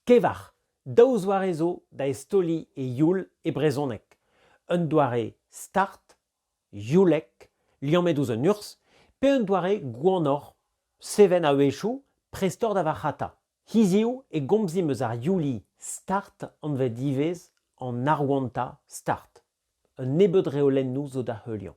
Kevar, daou zoare zo da eztaoliñ e youl e brezhoneg, un doare start, youlek, liammet ouzh un urzh, pe un doare gwanoc'h, seven a-wechoù, prestoc'h da varc'hata. Hiziv e gomzimp eus ar youli start anvet ivez an arwantañ start. Un nebeud reolennoù zo da heuliañ.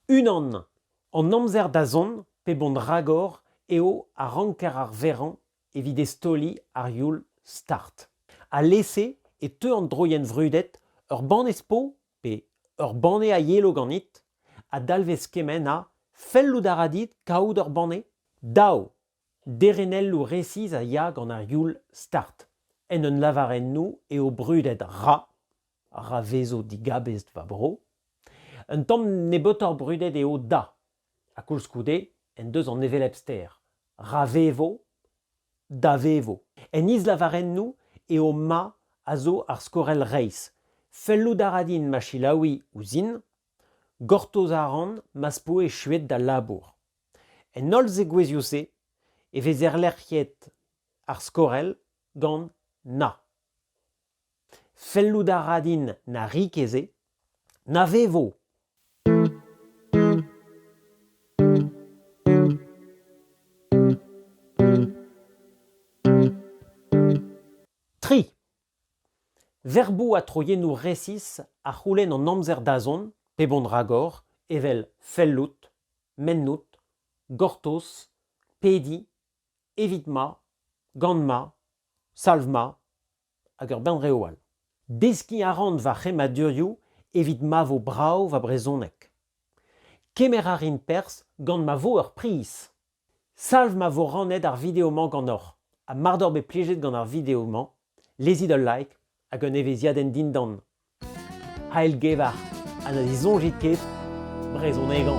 Unan, an amzer-dazont pe bont-ragor eo a ranker arverañ evit eztaoliñ ar youl start. Alese e teu an droienn vrudet ur banne spo pe ur banne a yelo ganit a dalvez kement ha fellout a ra dit kaout ur banne? Dav Derenelloù resis a ya gant ar youl start. En un lavarennoù eo brudet Ra, ra vezo digabestr va bro. Un tamm nebeutoc'h brudet eo Da, ha koulskoude en deus an hevelep ster. Ra vevo, da vevo. En islavarennoù eo Ma a zo ar skorell reizh. Fellout a ra din ma selaouiñ ouzhin. Gortoz a ran ma'z po echuet da labour. En holl zegouezhioù-se e vez erlec'hiet ar skorell gant na. Fellout a ra din na ri ket se, na vevo. Tri. Verboù ha troiennoù resis a c'houlenn an amzer-dazont, pep hon ragor, evel fellout, mennout, gortoz, pediñ, evit ma, gant ma, salv ma, hag ur bern reoù all. Deskiñ a ran va c'hemmadurioù evit ma vo brav va brezhoneg. Kemer a rin perzh gant ma vo ur priz. Salv ma vo rannet ar video-mañ ganeoc'h. Ha mar doc'h bet plijet gant ar video-mañ, lezit ul like hag un evezhiadenn dindan. Aelgevar ha na disoñjit ket brezhonegañ.